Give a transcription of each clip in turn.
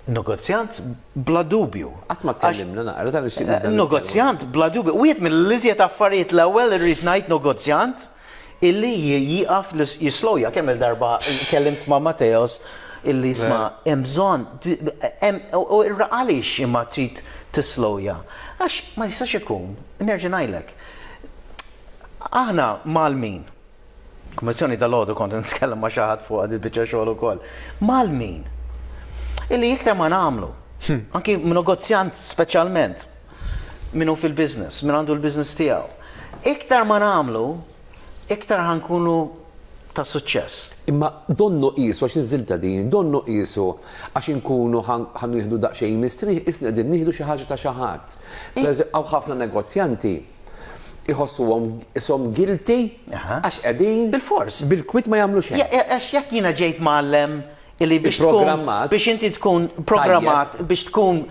Negozjant bla dubju. Qatt ma tkellimna naqra ta' nixtieq nibda. Negozjant bla dubju. Wieħed mill-iżjed affarijiet l-ewwel irrid ngħid negozjant illi jieqaf jislowja kemm il-darba kellimt ma' Mateos illi jisma' hemm bżonn u għaliex imma trid tislowja. Għax ma jistax ikun, nerġa' ngħidlek, aħna Malmin, Kummissjoni dalgħodu kont qed nitkellem ma' xi ħadd fuqha din il-biċċa xogħol ukoll. Mal min? Illi iktar ma nagħmlu, anki negozjant speċjalment min hu fil-business, min għandu l-business tiegħu. Iktar ma nagħmlu, iktar ħankunu ta' suċċess. Imma donnu qisu għax niżiltha din, donnu qisu għax inkunu ħa nieħdu daqsxejn mistrieħ, qisna qegħdin nieħdu xi ħaġa ta' xi ħadd. Hawn ħafna negozjanti. iħossuhom ishom guilty għax qegħdin Bilfors. bil-kwiet ma jagħmlu xejn. Għax jekk jiena ġejt mgħallem illi biex tkun Ipprogrammat. biex inti tkun programmat biex tkun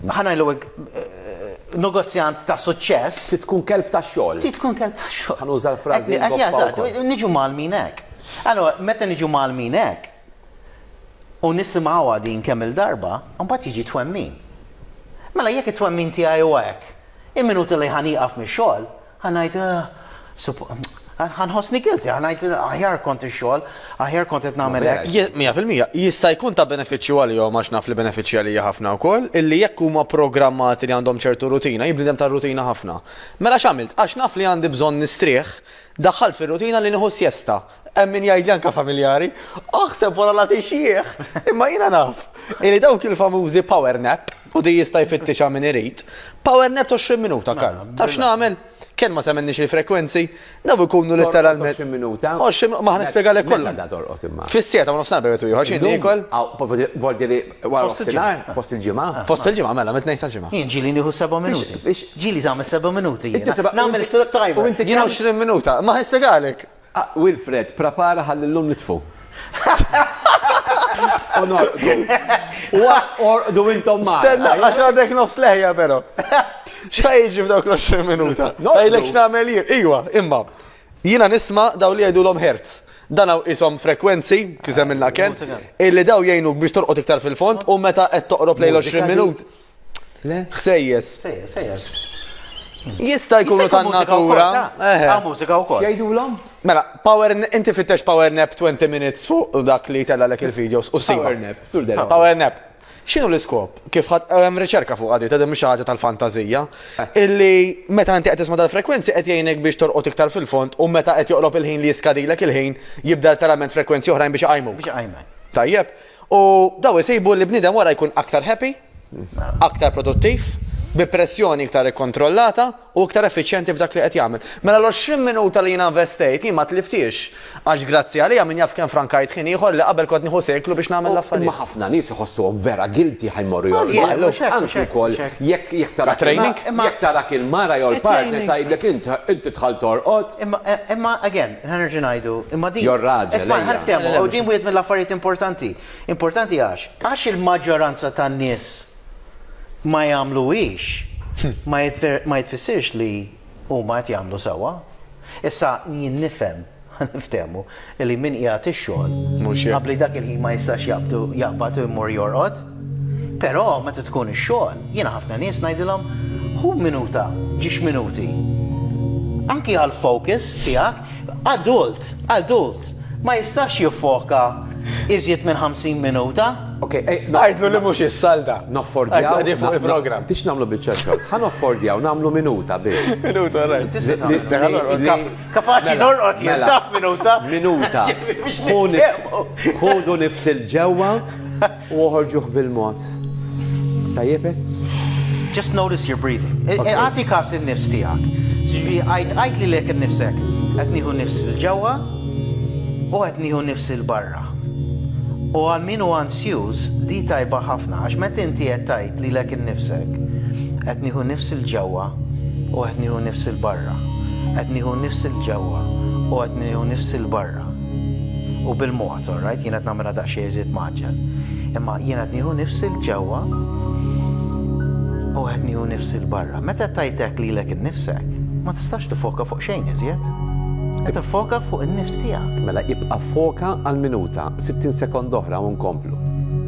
ħanajlu hekk, eh, negozjant ta' suċċess, Trid tkun kelb tax-xogħol. ti tkun kelb ta' xogħol. Ħanuża l-frażi Għad- ngoppa jażat, wkoll. Niġu malmin hekk. Allora, meta niġu malmin hekk, u nisimgħuha din kemm il-darba, mbagħad jiġi twemmin. Mela jekk it-twemmin tiegħi huwa hekk, Il-minuti li ħa nieqaf mix-xogħol, ħa ngħid, Ahh, ħa nħossni guilty, ħa ngħid, Aħjar kont ix-xogħol, aħjar kont qed nagħmel hekk. Mija fil-mija, jista' jkun ta' benefiċċju għalihom għax naf li benefiċċja għalija ħafna wkoll, illi jekk huma pprogrammati li għandhom ċertu rutina, hi bniedem tar-rutina ħafna. Mela x'għamilt? Għax naf li għandi bżonn nistrieħ, daħħalt fir-rutina li nieħu sjesta. Hemm min jgħidli anke familjari, aħseb wara la tixjieħ, imma jiena naf li dawk il-famużi power nap u di jista' jfittixha min irid, power nap 20 minuta kan. Mela, Taf x'nagħmel? Kemm ma semmenniex il-frekwenzi, daw ikunu letteralment. 20 minuta. 20 minuta, ma ħa nispjegalek mela, kollha. Meta torqod imma. Fis-sieta ma nofsinhar bejgħet ieħor xi nikol. Voldi li wara nofsinhar fost il-ġimgħa. Ah, fost il-ġimgħa mela mit tnejn sal-ġimgħa. Jien ġieli nieħu 7 minuti. Ġieli żagħmel 7 minuti. Nagħmel it-tajba. U inti 20 minuta, ma ħa nispjegalek. Wilfred, prapara ħalli llum nitfu. U norqdu. U orqdu intom ma. Stenna, għax għadek nofs leħja pero. Xħaj iġi f'dawk l-20 minuta? Għajlek x'namel jien. Iwa, imma. Jina nisma daw li jgħidu l-om hertz. Dan għaw isom frekwenzi, kizem il-naken, illi daw jgħinuk biex torqot iktar fil-fond, u meta qed toqrob lejl 20 minut. Le? Ħsejjes. Sejjer, sejjer. Jista' jkunu Jista' jkun mużika wkoll, tan-natura. ta? Eħe. Hawn mużika wkoll. X'jgħidulhom? Mela, power n- inti fittex power nap 20 minutes fuq dak li jtellgħalek il-videos u ssibha. Power nap, sur Derek. Power nap. X'inhu l-iskop? Kif ħadd hemm riċerka fuq għadi, ta' din mhix xi ħaġa tal-fantażija, illi meta inti qed tisma' dal-frekwenzi qed jgħinek biex torqod iktar fil-fond u meta qed joqrob il-ħin li jiskadilek il-ħin jibda letteralment frekwenzi oħrajn biex iqajmuk. Biex iqajmek. Tajjeb? U dawn isibu li bniedem wara jkun aktar happy, aktar produttiv, bi pressjoni iktar ikkontrollata u iktar effiċjenti f'dak li qed jagħmel. Mela l-għoxrin minuta li jiena investejt jien ma tliftiex għax grazzi għaliha min jaf kemm frankajt ħin ieħor li qabel kont nieħu seklu biex nagħmel l-affarijiet. Imma ħafna nies iħossuhom vera guilty ħa jmorru jorqdu. Anki wkoll jekk jekk tara training, jekk tarak il-mara jew il-partner tgħidlek int inti dħalt torqod. Imma again, Ħa nerġa' ngħidu, imma din. Your raġel, ejja. Ħa niftehmu, u din wieħed mill-affarijiet importanti. Importanti għax? Għax il-maġġoranza tan-nies ma jagħmluhiex, ma jtfissirx li huma qed jagħmlu sewwa. Issa, jien nifhem, ħa niftehmu, li min qiegħed ix-xogħol. Mhux hekk. Qabbli dak il-ħin ma jistax jaqbad u jmur jorqod. Però meta tkun ix-xogħol, jiena ħafna nies ngħidilhom, Ħu minuta, ġiex minuti. Anki għall-focus tiegħek. Adult, adult, ma jistax jiffoka iżjed minn 50 minuta. Ok, ej, ngħidlu li mhux is-salda. Noffordjaw. Qegħdin fuq il-programm. Tix nagħmlu biċċa xogħol. Ħa noffordjaw nagħmlu minuta biss. Minuta, rajt. Kapaċi norqod jintaf minuta. Minuta. Ħu nifsil ġewwa. U oħorġuh bil-mod. Tajjeb hekk? Just notice your breathing. E, e, Għati kas il-nifs tijak. Ġiġi, għajt għajt li lek il-nifsek. Għet niħu nifs il-ġewa u għet niħu nifs il-barra. U għal min u ansjuż di tajba ħafna, għax met inti għet għajt li lek il-nifsek. Għet niħu nifs il-ġewa u għet niħu nifs il-barra. Għet niħu nifs il-ġewa u għet niħu nifs il-barra. U bil-mod. It's alright, jiena qed nagħmilha daqsxejn iżjed mgħaġġel. Imma jiena qed nieħu nifsi 'l ġewwa u qed nieħu nifsi 'l barra. Meta qed tgħid hekk lilek innifsek, ma tistax tiffoka fuq xejn iżjed. Qed tiffoka fuq in-nifs tiegħek. Mela ibqa' ffoka għal minuta, 60 sekonda oħra u nkomplu.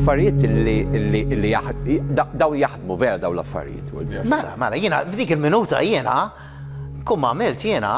affarijiet li daw jaħdmu vera daw l-affarijiet. Mela, mela, jiena f'dik il-minuta jiena kum għamilt jiena,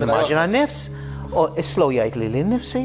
immaġina n-nifs, u slow jgħid li l-nifsi,